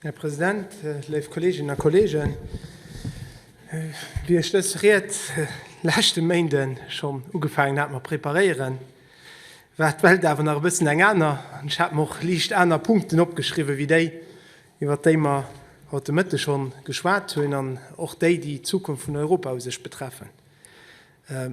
Här President, léif Kolleeginnen a Kolleegen, wéi ech dës Ried leschte Méinde schonn ugefaangen hat mat preparéieren, war d'Welt awer nach e bëssen eng aner an ech hat mer och liicht aner Punkten opgeschriwwen, wéi déi, iwwert déi mer haut de Mëtteg schonn geschwat hunn, an och déi, déi d'Zukunft vun Europa u sech betreffen.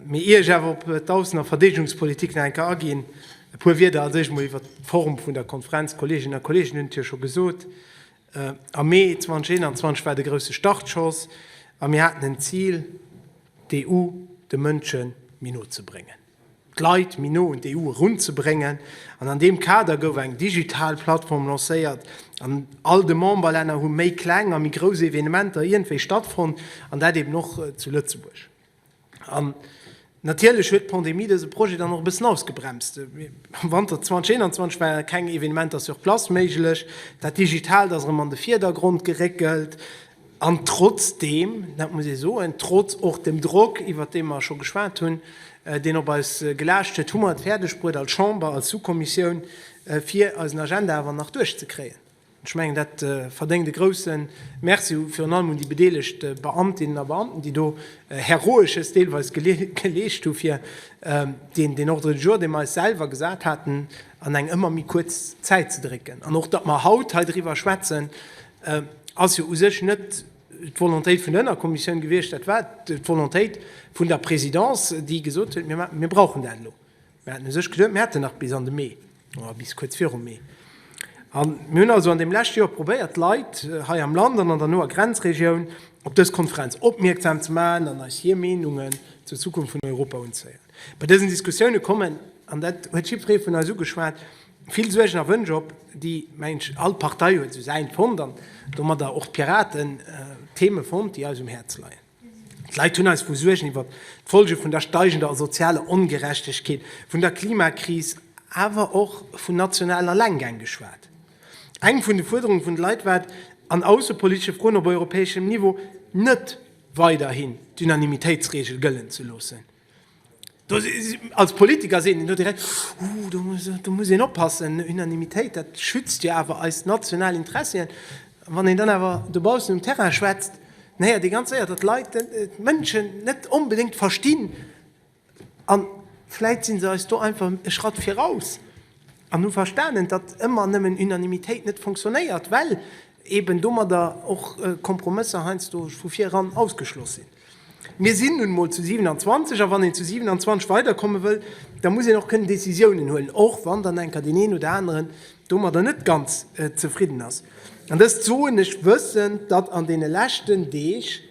Mee ier ech awer op d'Aussen a Verdeedegungspolitik nach eng Kéier aginn, e puer Wierder als éischt mol iwwert d'Form vun der Konferenz. D'Kolleeginnen a Kolleegen hunn et jo scho gesot, Am Mee 2021 war de grousse Startschoss a mir haten en Zil, d'EU de Mënsche méi no ze bréngen, d'Leit méi no un d'EU erun ze bréngen. An an deem Kader gouf eng digital Plattform lancéiert an all de Memberlänner hu méi kleng a méi grouss Evenementer iergendwéi stattfonnt, an dat eeben och zu Lëtzebuerg. An natierlech huet d'Pandemie dëse Projet dann och e bëssen ausgebremst. Am Wanter 2021 ware keng Evenementer sur place méiglech, dat Digitaalt ass erëm an de Vierdergrond geréckelt. An trotzdeem, dat muss ee soen, trotz och dem Drock, iwwert dee mer scho geschwat hunn, deen op eis gelaascht huet, hu mer et fäerdegbruet als Chamber, als Sous-Kommissioun, fir eisen Agenda awer nach duerchzekréien. Ech mengen, dat verdéngt e grouse Merci, virun allem un déi bedeelegt Beamtinnen a Beamten, déi do Heroesches deelweis geleescht hu fir deen Ordre du jour, dee mer eis selwer gesat haten, an eng ëmmer méi kuerz Zäit ze drécken. An och datt mer haut hei driwwer schwätzen, ass jo u sech net d'Volontéit vun der Ënnerkommissioun gewiescht, dat war d'Volontéit vun der Présidence, déi gesot huet, Mir brauchen dat elo. Mir haten u sech geduet, mir hätten nach bis an de Mee oder bis kuerz viru Mee. A mir hunn also an deem leschte Joer probéiert, d'Leit hei am Land an an der noer Grenzregioun op dës Konferenz opmierksam ze maachen an eis hir Meenungen zur Zukunft vun Europa unzéieren. Bei dësen Diskussioune kommen, an dat huet jiddweree vun eis ugeschwat, vill Suergen a Wënsch op, déi, mengen ech, all Partei huet esou säint fonnt an domadder och d'Piraten, Theeme fonnt, déi eis um Häerz leien. D'Leit hunn eis vu Suergen iwwer d'Folge vun der steigender sozialer Ongerechtegkeet, vun der Klimakris, awer och vun nationalen Allenggäng geschwat. Eng vun de Fuerderunge vun de Leit war et, an aussepolitesche Froen op europäeschem Niveau net weiderhin d'Unanimitéitsregel gëllen ze loossen. Als Politiker seet een do direkt, Huu, do muss een oppassen, Unanimitéit, dat schützt jo awer eis national Interessien. A wann een dann awer dobaussen um Terrain schwätzt, dann héiert ee ganz séier, datt d'Leit, d'Mënschen net onbedéngt verstinn, a vläicht si se eis do einfach e Schratt viraus an hu verstanen, datt ëmmer nëmmen Unanimitéit net fonctionnéiert, well eben domadder och Kompromësser heiansdo vu vireran ausgeschloss sinn. Mir sinn nun emol zu 27, a wann een zu 27 weiderkomme wëll, da muss een och kënnen Décisiounen huelen, och wann dann enker deen een oder aneren domadder net ganz zefridden ass. An dëst soen ech wëssend, datt an deene leschten Deeg,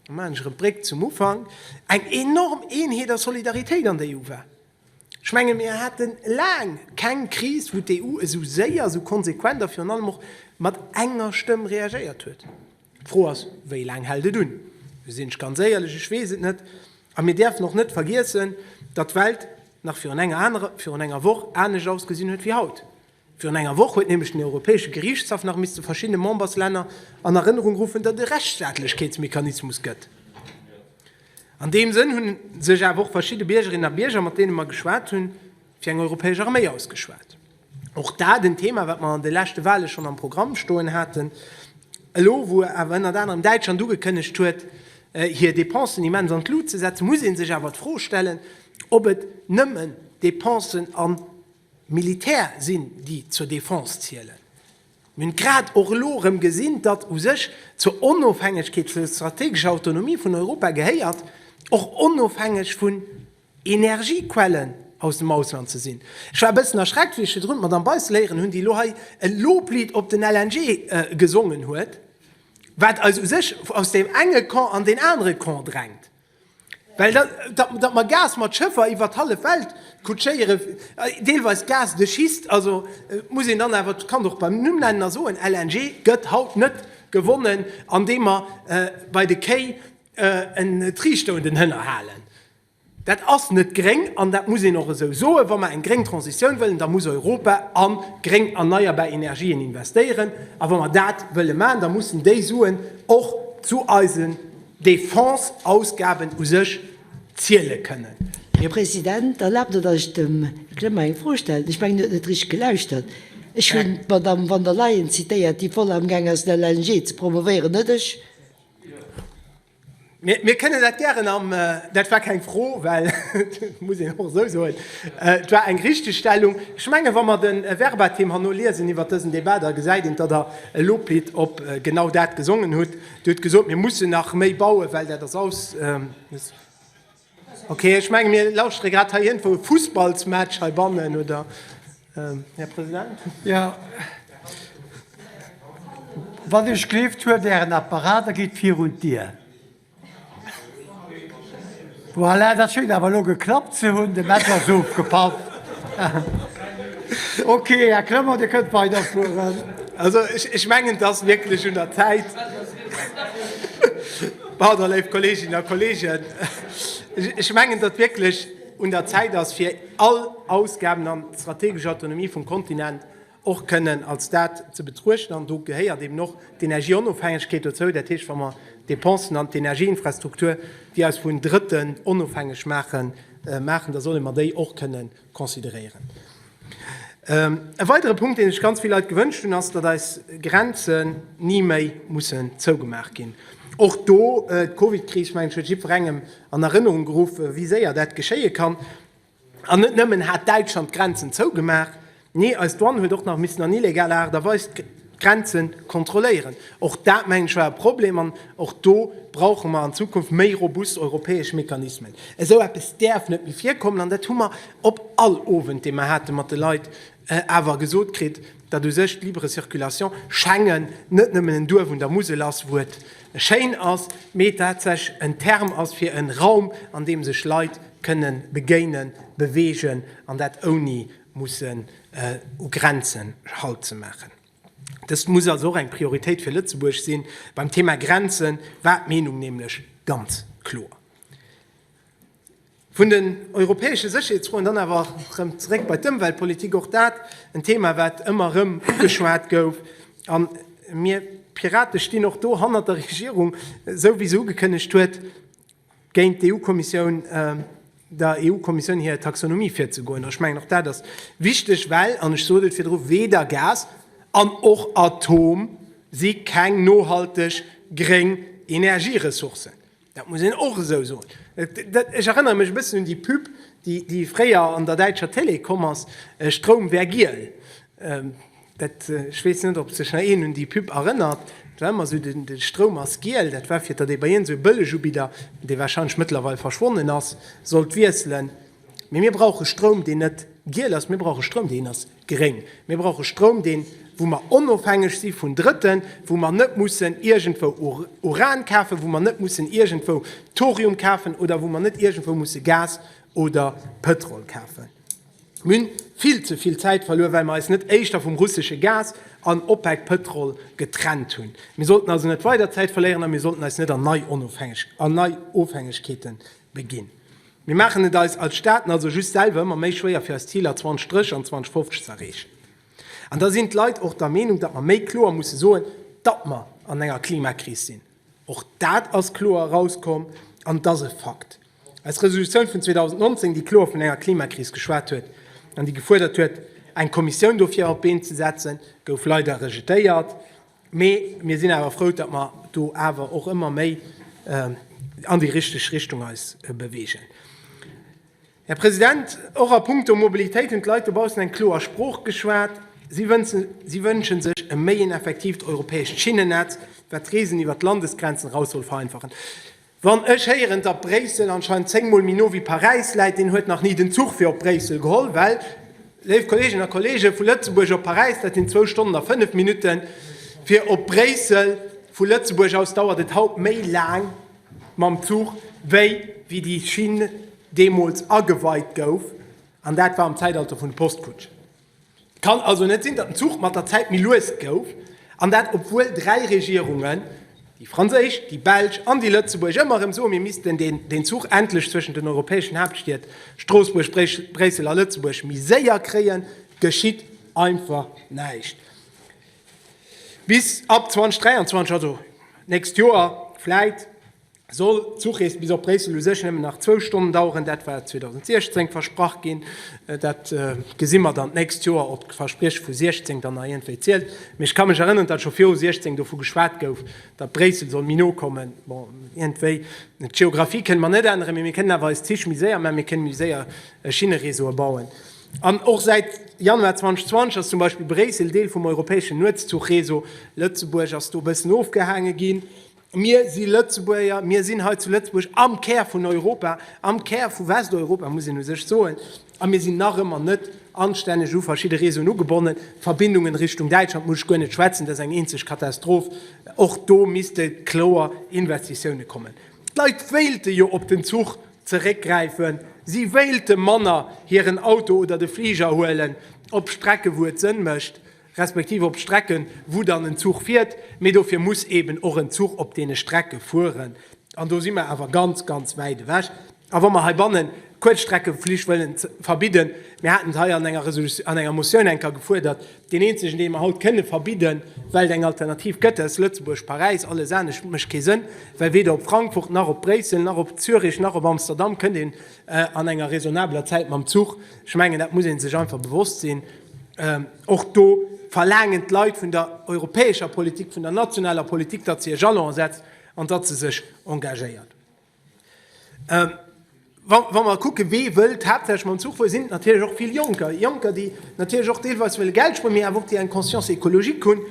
da maachen ech erëm d'Bréck zum Ufank, eng enorm Eenheet a Solidaritéit an der EU war. Ech menge mir hate laang keng Kris, wou d'EU esou séier, esou konsequent a virun allem och mat enger Stëmm reagéiert huet. D'Fro ass, wéi laang hält et un? Do sinn ech ganz éierlech, ech weess et net. A mir däerfen och net vergiessen, datt d'Welt nach virun enger anerer, virun enger Woch anescht ausgesinn huet wéi haut. Virun enger Woch huet nämlech den Europäesche Geriichtshaff nach misste verschiddene Memberslänner an Erënnerung ruffen, datt et e Rechtsstaatlechkeetsmechanismus gëtt. An deem Sënn hunn sech awer och verschidde Biergerinnen a Bierger, mat deene mer geschwat hunn, fir eng europäesch Arméi ausgeschwat. Och dat en Thema, wat mer an de leschte Wahle schonn am Programm stoen haten. Elo wou awer ënnert anerem Däitschland ugekënnegt huet, hir Dépensen immens an d'Lut ze setzen, muss ee sech awer d'Fro stellen, ob et nëmmen Dépensen an Militär sinn, déi zur Defense zielen. Mir hunn et grad och elo erëm gesinn, datt u sech zur Onofhängegkeet, zur strategescher Autonomie vun Europa gehéiert, och onofhängeg vun Energiequellen aus dem Ausland ze sinn. Ech war e bëssen erschreckt, wéi ech virdrun d'Madamm Beissel héieren hunn, déi elo hei e Loblied op den LNG gesongen huet, wat eis u sech aus deem enge Camp an deen anere Camp drängt. Well datt mer Gas mat Schëffer iwwer d'hallef Welt kutschéieren, deelweis Gas de schiste, also muss een dann awer d'Kand och beim Numm nennen a soen, LNG gëtt haut net gewonnen, andeem mer bei de Kéi en Triichter un den Hënner halen. Dat ass net gréng an dat muss een och esou soen. Wa mer eng gréng Transitioun wëllen, da muss Europa a gréng erneierbar Energien investéieren. A wa mer dat wëlle maachen, da mussen déi Suen och zu eise Defense-Ausgaben u sech ziele kënnen. Här President, erlaabt, datt ech dem Här Clement eng Fro stellen. Ech mengen, hien huet net richteg gelauschtert. Ech hunn d'Madamm von der Leyen zitéiert, déi voll amgaang ass, den LNG ze promovéieren, net ech. Mir kënnen dat gären am. Dat war keng Fro, well et muss een och esou soen, et war eng Richtigstellung. Ech mengen, wa mer de Verbatim herno liesen iwwert dësen Debat, da gesäit een, datt Der e Loblied op genau dat gesongen hutt. Dir hutt gesot, mir mussen nach méi bauen, well dat ass aus. Okay, ech menge mir lauschtere grad hei iergendwou e Fussballsmatch heibannen, oder, Här President? Jo. Wann Dir gelift, huelt Ären Apparat a gitt virun d'Dier. Voilà, dat schéngt awer elo geklappt ze hunn. De Match ass ofgepaff. Ok, Här Clement, Dir kënnt weiderfueren. Also ech mengen, et ass wierklech un der Zäit. Pardon, léif Kolleeginnen a Kolleegen. Ech mengen, datt wierklech un der Zäit ass, fir all Ausgaben an d'strategesch Autonomie vum Kontinent och kënnen als dat ze betruechten, an do gehéiert eben och d'Energieonofhängegkeet dozou, dat heescht, wa mer d'Depensen an d'Energieinfrastruktur, déi eis vun Drëtten onofhängeg maachen, maachen, da solle mer déi och kënnen consideréieren. E weidere Punkt, dee sech ganz vill Leit gewënscht hunn, ass, datt eis Grenzen ni méi mussen zougemaach ginn. Och do, d'Covidkris, mengen ech, huet jiddwerengem an Erënnerung geruff, wéi séier dat geschéie kann. An net nëmmen hat Däitschland d'Grenzen zougemaach, nee eis Douane huet och nach missen an illegaler Aart a Weis d'Grenze kontrolléieren. Och dat, mengen ech, war e Problem an och do brauche mer an Zukunft méi robust europäesch Mechanismen. Esou eppes däerf net méi virkommen an dat hu mer op all Owend, dee mer hate mat de Leit, awer gesot kritt, datt u sech d'libre circulation, Schengen, net nëmmen en Duerf un der Musel ass, wou et schéin ass, mee tatsächlech en Term ass fir e Raum, an deem sech Leit kënne begéinen, beweegen, an dat ouni mussen u Grenzen Halt ze maachen. Dëst muss also och eng Prioritéit fir Lëtzebuerg si beim Thema Grenzen, war d'Meenung nämlech ganz kloer. Vun den europäesche Sécherheetsfroen dann awer rëm zeréck bei d'Ëmweltpolitik. Och dat en Thema, wat ëmmer erëm ugeschwat gouf. A mir Pirate stinn och do hannert der Regierung, esou wéi se ugekënnegt huet, géint d'EU-Kommissioun, der EU-Kommissioun hir Taxonomie virzegoen. Ech mengen, och dat ass wichteg, well, an ech sot et virdru, weder Gas an och Atom si keng nohalteg gréng Energieressourcen. Dat muss een och esou soen. Ech erënnere mech e bëssen un déi Pub, déi fréier an der däitscher Télé komm ass, Stroum wär giel. Dat, ech weess net, ob sech nach een un déi Pub erënnert. Dat war ëmmer esou, de Stroum ass giel. Dat war, fir datt ee bei iergend esou e Bëllegubidder, dee warscheinlech mëttlerweil verschwonnen ass, sollt wiesselen. Mee mir brauche Stroum, deen net giel ass. Mir brauche Stroum, deen ass. Gréng, Mir brauche Stroum, deen, wou mer onofhängeg si vun Drëtten, wou mer net mussen iergendwou Uran kafen, wou mer net mussen iergendwou Thorium kafen oder wou mer net iergendwou musse Gas oder Pëtrol kafen. Mir hunn vill ze vill Zäit verluer, well mer eis net éischter vum russesche Gas an OPEC-Pëtrol getrennt hunn. Mir sollten also net weider Zäit verléieren a mir sollten eis net an nei Ofhängegkeete beginn. Mir maachen et eis als Staaten also just selwer ëmmer méi schwéier fir eis Ziler 2030 an 2050 ze erreechen. An da sinn d'Leit och der Meenung, datt mer méi kloer musse soen, datt mer an enger Klimakris sinn. Och dat ass kloer erauskomm an et ass e Fakt. Eis Resolutioun vun 2019, déi kloer vun enger Klimakris geschwat huet an déi gefuerdert huet, eng Kommissioun dofir op d'Been ze setzen, gouf leider rejetéiert. Mee mir sinn awer frou, datt mer do awer och ëmmer méi an déi richteg Richtung eis beweegen. Här President, och a puncto Mobilitéit hunn d'Leit dobaussen eng kloer Sprooch geschwat. Si wënsche sech e méi een effektiivt europäescht Schinnennetz, wat d'Reesen iwwert d'Landesgrenzen eraus soll vereinfachen. Wann ech héieren datt Bréissel anscheinend 10 mol méi no wéi Paräis läit, deen huet nach ni den Zuch fir op Bréissel geholl, well, léif Kolleeginnen a Kolleegen, vu Lëtzebuerg op Paräis, dat sinn zwou Stonnen a fënnef Minutten, fir op Bréissel vu Lëtzebuerg aus dauert et haut méi laang mam Zuch wéi wéi déi Schinn deemools ageweit gouf, an dat war am Zäitalter vun de Postkutschen. Et kann also net sinn, datt den Zuch mat der Zäit méi lues gouf, an dat obwuel dräi Regierungen, déi franséisch, déi belsch an déi lëtzebuergesch, ëmmer erëm soen, mir missten deen Zuch endlech zwëschen den europäeschen Haaptstied Stroossbuerg, Bréissel a Lëtzebuerg méi séier kréien. Et geschitt einfach näischt bis ab 2023, also d'nächst Joer vläit. Soll d'Zuchrees bis op Bréissel u sech nëmmen nach zwou Stonnen daueren, dat war 2016 versprach ginn, dat gesi mer dann d'nächst Joer, ob d'Versprieche vu 16 dann nach iergendwéi zielt. Mee ech ka mech erënneren, datt scho viru 16 dovu geschwat gouf, datt Bréissel soll méi no kommen. Bon, iergendwéi, d'Geographie kënne mer net änneren, mee mir kënnen awer eis Zich méi séier maachen, mir kënne méi séier Schinnereseaue bauen. An och säit Januar 2020 ass zum Beispill Bréissel Deel vum europäeschen Nuetszuchreseau. Lëtzebuerg ass do e bëssen ofgehaange ginn. Mir si Lëtzebuerger, mir sinn hei zu Lëtzebuerg am Kär vun Europa, am Kär vu Westeuropa, muss een u sech soen, a mir sinn nach ëmmer net anstänneg u verschidde Réseauen ugebonnen. D'Verbindungen Richtung Däitschland muss ech guer net schwätzen, dat ass eng eenzeg Katastroph. Och do misste kloer Investitiounen kommen. D'Leit wéilte jo op den Zuch zeréckgräifen, si wéilte manner hiren Auto oder de Fliger huelen op Strecke, wou et Sënn mécht. respektiv op Strecken, wou dann en Zuch fiert, mee dofir muss eeben och en Zuch op deene Strecke fueren, an do si mer awer ganz, ganz wäit ewech. A wa mer heibannen d'Kuerzstreckeflich wëllen verbidden, mir haten et hei an enger Resolutio-, an enger Motioun eng Kéier gefuerdert, deen eenzegen, dee mer haut kënne verbidden, well et eng Alternativ gëtt, dat ass Lëtzebuerg-Paräis, alles anescht mécht kee Sënn, well weder op Frankfurt nach op Bréissel nach op Zürich nach op Amsterdam kënnt ee An enger raisonnabeler Zäit mam Zuch, ech mengen, dat muss ee sech einfach bewosst sinn. Och do verlaangen d'Leit vun der europäescher Politik, vun der nationaler Politik, datt se e Jalon setzt an datt se sech engagéiert. Wa mer kucken, wie wëllt haaptsächlech mam Zuch fueren, sinn et natierlech och vill Jonker. Jonker, déi natierlech och deelweis wëlle Geld spueren, mee awer och déi eng Conscience écologique hunn.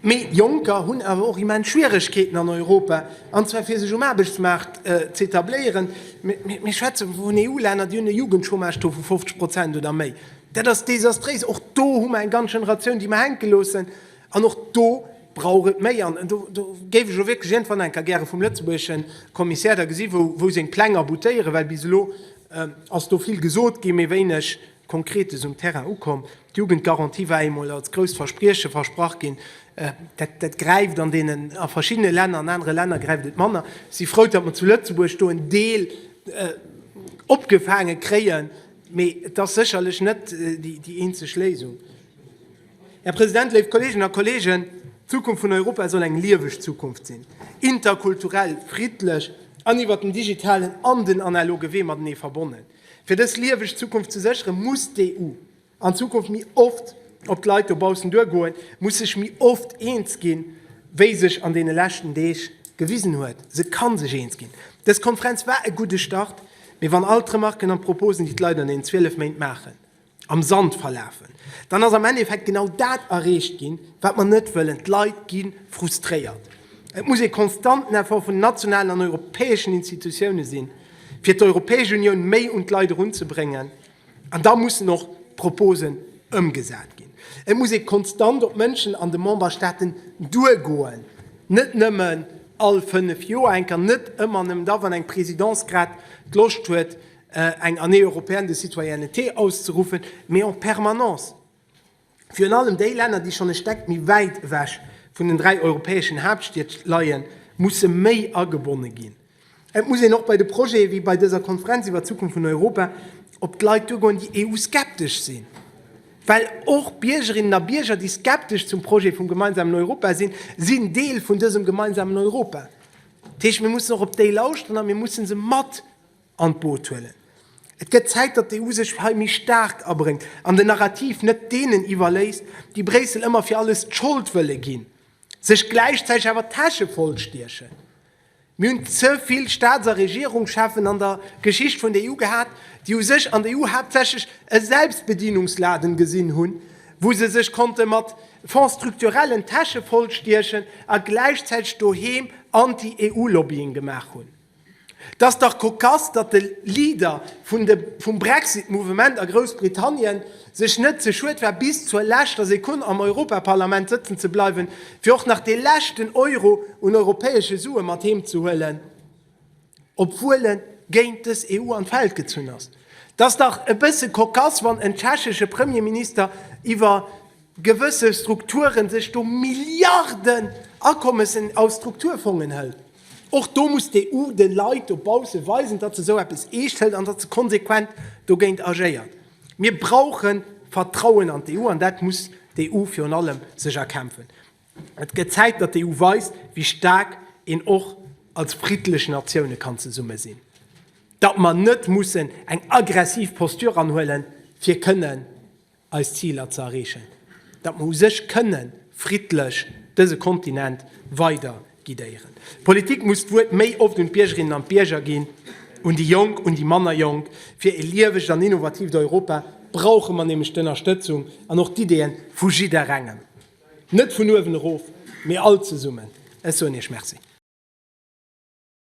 Mee Jonker hunn awer och immens Schwieregkeeten an Europa, an zwar fir sech um Aarbechtsmaart z'etabléieren. Mir schwätze vun EU-Länner, déi hunn e Jugendchômage-Taux vu 50 Prozent oder méi. Dat ass desastréis. Och do hu mer eng ganz Generatioun, déi mer hänke loossen. An och do brauch et méi. An do géif ech och wierklech iergendwann eng Kéier gäre vum lëtzebuergesche Kommissär da gesi wou seng Pläng aboutéieren, well bis elo ass do vill gesot ginn, mee wéineg Konkretes um Terrain ukomm. D'Jugendgarantie war eemol als grousst Versprieche versprach ginn. Dat gräift an deenen, a verschiddene Länner, an anere Länner gräift et manner. Ech si frou, datt mer zu Lëtzebuerg do en Deel opgefaange kréien, mee et ass sécherlech net déi eenzeg Léisung. Här President, léif Kolleeginnen a Kolleegen, d'Zukunft vun Europa soll eng lieweg Zukunft sinn, interkulturell, friddlech an iwwert den digitalen an den analoge Wee matenee verbonnen. Fir dës lieweg Zukunft ze sécheren, muss d'EU an Zukunft méi oft op d'Leit dobaussen duergoen, muss sech méi oft eens ginn, wéi sech an deene leschten Deeg gewisen huet. Se ka sech eens ginn. Dës Konferenz war e gudde Start, mee wann all d'Remarken an d'Proposen, déi d'Leit an deenen 12 Méint maachen, am Sand verlafen, dann ass am Endeffekt genau dat erreecht ginn, wat mer net wëllen, d'Leit gi frustréiert. Et muss ee konstanten Effort vun den nationalen an europäeschen Institutiounen sinn, fir d'Europäesch Unioun méi un d'Leit erunzebréngen, an da mussen och d'Proposen ëmgesat ginn. Et muss ee konstant op d'Mënschen an de Memberstaaten duergoen, net nëmmen all fënnef Joer enker, net ëmmer nëmmen da, wann eng Présidence grad d'Loscht huet, eng Année européenne de citoyenneté auszeruffen, mee en permanence, virun allem déi Länner, déi schonn e Steck méi wäit ewech vun den dräi europäeschen Haaptstied leien, musse méi agebonne ginn. Et muss een och bei de Projete wéi bei dëser Konferenz iwwer d'Zukunft vun Europa op d'Leit duergoen, déi EU-skeptesch sinn, well och Biergerinnen a Bierger, déi skeptesch zum Projet vum gemeinsamen Europa sinn, sinn Deel vun dësem gemeinsamen Europa. Dat heescht, mir mussen och op déi lauschteren a mir musse se mat an d'Boot huelen. Et gëtt Zäit, datt d'EU sech hei méi staark abréngt an den Narrativ net deenen iwwerléisst, déi Bréissel ëmmer fir alles d'Schold wëlle ginn, sech gläichzäiteg awer d'Täsche voll stiechen. Mir hunn ze vill Staats a Regierungscheffen an der Geschicht vun der EU gehat, déi u sech an der EU haaptsächlech e Selbstbedienungsladen gesinn hunn, wou se sech konnte mat Fonds structurellen d'Täsche voll stiechen a gläichzäiteg doheem Anti-EU-Lobbying gemaach hunn. 't ass dach kokass, datt de Leader vum Brexit Mouvement a Groussbritannien sech net ze schued war bis zur leschter Sekonn am Europaparlament sëtzen ze bleiwen, fir och nach dee leschten Euro un europäesche Sue mat heem ze huelen, obwuel en géint dës EU an d'Feld gezunn ass. 't ass dach e bësse kokass, wann en tschechesche Premierminister iwwer. gewësse Strukturen sech do Milliarden Akommessen aus Strukturfongen hëlt. Och do muss d'EU de Leit dobausse weisen, datt se esou eppes eescht hëlt an datt se konsequent dogéint agéiert. Mir brauche Vertrauen an d'EU an dat muss d'EU virun allem sech erkämpfen. Et gëtt Zäit, datt d'EU weist, wéi staark een och als friddlech Natioune kann zesumme sinn, datt mer net mussen eng aggressiv Posture anhuelen, fir kënnen, eis Ziler ze erreechen, datt mer u sech kënne friddlech dëse Kontinent weider guidéieren. D'Politik muss d'Wuert méi oft un d'Biergerinnen an d'Bierger ginn, un déi Jonk, un déi manner Jonk. Fir e liewegt an innovatiivt Europa brauche mer nämlech d'Ënnerstëtzung an och d'Ideeën vu jidderengem, net vun uewen erof, mee all zesummen. Ech soen Iech Merci.